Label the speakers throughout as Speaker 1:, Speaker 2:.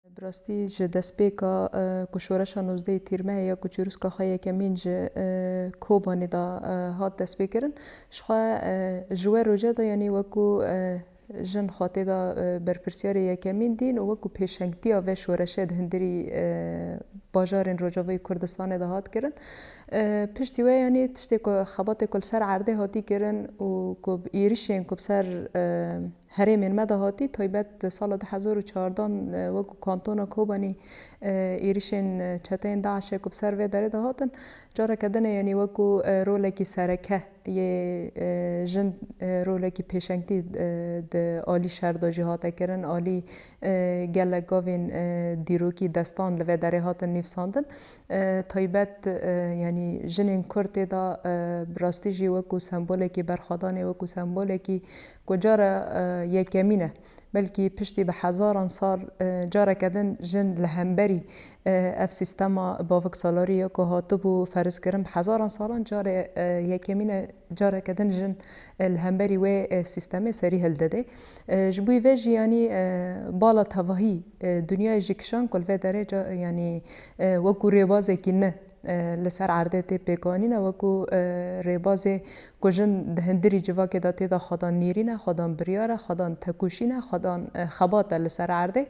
Speaker 1: Bi rastî ji destpêka ku şoreşa nozdehê Tîrmehê ya ku çirûska xwe yekemîn ji Kobanê de hat destpêkirin, ji xwe ji we roja de yanî wekû jin xwe tê de berpirsiyarê yekemîn dîn û wekû pêşengtiya vê şoreşê di hundirî bajarên Rojavayî Kurdistanê de hat kirin. Piştî wê yanî tiştê ku xebatê ku li ser erdê hatî kirin û ku bi êrişên ku bi ser Herêmên me de hatî taybet di sala du hezar û çardeh an wek ku kantona Kobanî êrişên çeteyên DAIŞ'ê ku bi ser vê derê de hatin careke din ê yanî wek ku rolekî sereke yê jin rolekî pêşengtî di alî şer de jî hate kirin alî gelek gavên dîrokî destan li vê derê hatin nivîsandin taybet yanî jinên kurd tê de bi rastî jî wek ku sembolekî berxwedanê wek ku sembolekî ku cara yekemîn e, belkî piştî bi hezaran sal careke din jin li hemberî ev sîstema baviksalariyê ku hatibû ferzkirin bi hezaran salan cara yekemîn e careke din jin li hemberî wê sîstemê serî hildidê. Ji bo vê jî yanî bala tevahî dinyayê jî kişand ku li vê derê yanî wekû rêbazekî ne, Li ser erdê tê pêkanîn e wekû rêbazê ku jin di hindirî civakê de tê de xwedan nêrîn e, xwedan biryar e, xwedan tekûşîn e, xwedan xebat e li ser erdê.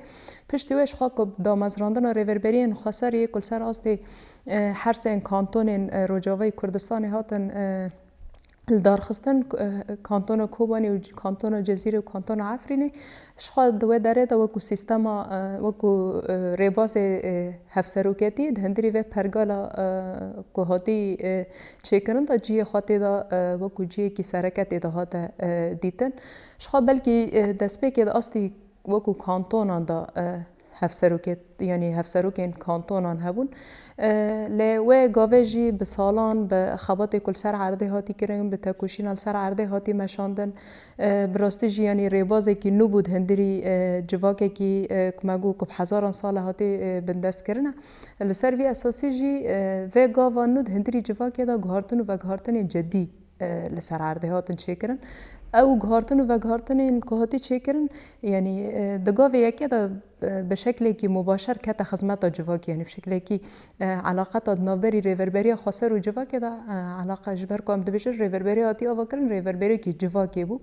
Speaker 1: Piştî wê ji xwe ku bi damezrandina rêverberiyên xweser yê ku li ser astê hersên kantonên Rojavayî Kurdistanê hatin, li darxistin kantona Kobanê û kantona Cezîrê û kantona Efrînê ji xwe di wê derê de wekû sîstema wekû rêbazê hevseroketî di hundirî vê pergala ku hatî çêkirin de cihê xwe tê de wekû cihekî sereke tê de hate dîtin. Ji xwe belkî destpêkê di astî wekû kantonan de hevserokê yanî hevserokên kantonan hebûn. Lê wê gavê jî bi salan bi xebatê ku li ser erdê hatî kirin, bi tekoşîna li ser erdê hatî meşandin. Bi rastî jî yanî rêbazekî nû bû di hundirî civakekî ku me got ku bi hezaran sal e hatê bindestkirin e. Li ser vî esasî jî vê gava nû di hundirî civakê de guhartin û veguhartinên cidî li ser erdê hatin çêkirin. Ew guhertin û veguhertinên ku hatî çêkirin yanî di gavê yekê de bi şeklekî mubaşer kete xizmeta civakê yanî bi şeklekî eleqeta di navberî rêverberiya xweser û civakê de eleqe ji ber ku em dibêjin rêverberî hatî avakirin rêverberiyekî civakê bû.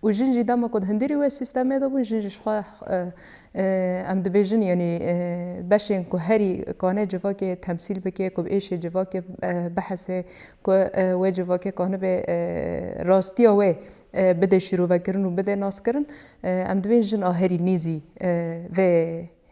Speaker 1: û jin jî dema ku di hundirî wê sîstemê de bûn jin jî ji xwe em dibêjin yanî beşên ku herî kane civakê temsîl bike ku bi êşê civakê bihese ku wê civakê kanibe rastiya wê bide şîrovekirin û bide naskirin em dibên jin a herî nêzî vê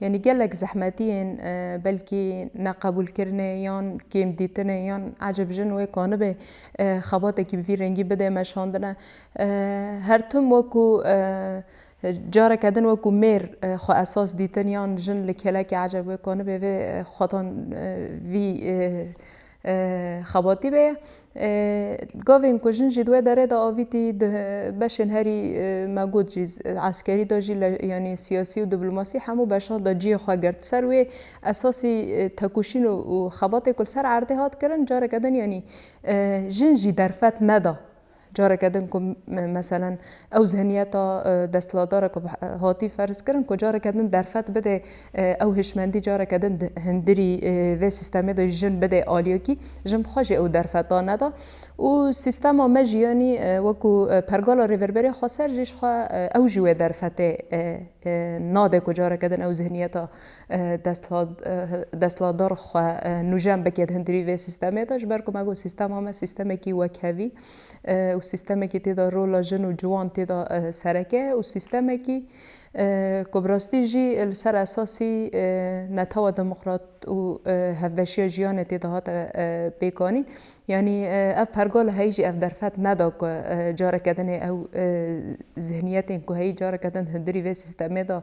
Speaker 1: Yanî gelek zehmetiyên belkî neqebûlkirinê yan kêmdîtinê yan ecêb jin wê ka nibê xebatekî bi vî rengî bidê me şandine. Her tim wekû careke din wekû mêr xwe esas dîtin yan jin li kêlekê ecêb wê ka nibê vê xwetan vî Xebatî be. Gavên ku jin jî di wê derê de avîtî di beşên herî me got jî eskerî de jî yanî siyasî û diplomasî hemû beşan de cihê xwe girt. Di ser wê esasî tekoşîn û xebatê ku li ser erdê hat kirin careke din yanî jin jî derfet neda. Careke din ku meselen ew zihniyeta desthilatdar e ku hatî ferz kirin ku careke din derfet bide ew hişmendî careke din di hindirî vê sîstemê de jin bide aliyekî, jin bi xwe jî ew derfeta neda û sîstema me jî yanî wekû pergala rêverberiya xweser jî ji xwe ew jî wê derfetê nade ku careke din ew zihniyeta desthilatdar xwe nûjen bike di hundirî vê sîstemê de ji ber ku me got sîstema me sîstemekî wekhevî û sîstemekî tê de rola jin û ciwan tê de sereke ye û sîstemekî ku bi rastî jî li ser esasî netewa demokrat û hevbeşiya jiyanê tê de hate pêkanîn yanî ev pergal li heyî jî ev derfet neda ku careke din ê ew zihniyetên ku heyî careke din di hundirî vê sîstemê de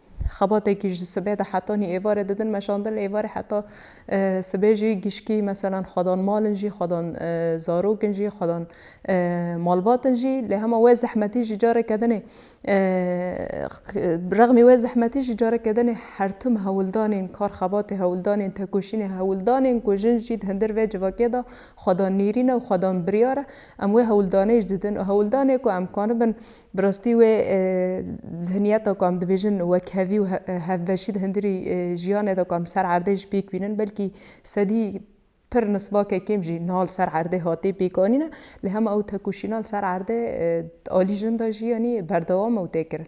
Speaker 1: Xebatekî ji sibê de heta nî êvarê didin meşandin lê êvarê heta sibê jî gişkî meselan xwedan mal in jî xwedan zarok in jî xwedan malbat in jî lê hema wê zehmetî jî careke din ê bi rexmî wê zehmetî jî careke din ê hertim hewildanên kar xebatê hewildanên tekoşînê hewildanên ku jin jî di hundir vê civakê de xwedan nîrîn e û xwedan biryar e em wê hewildanê jî didin û hewildanê ku em kanibin Bi rastî wê zihniyeta ku em dibêjin wekhevî û hevbeşî di hundirî jiyanê de ku em ser erdê jî pêk bînin belkî sedî pir nisbake kêm jî niha li ser erdê hatê pêkanîn e. Lê hema ew tekoşîna li ser erdê di alî jin de jî yanî berdewam e û tê kirin.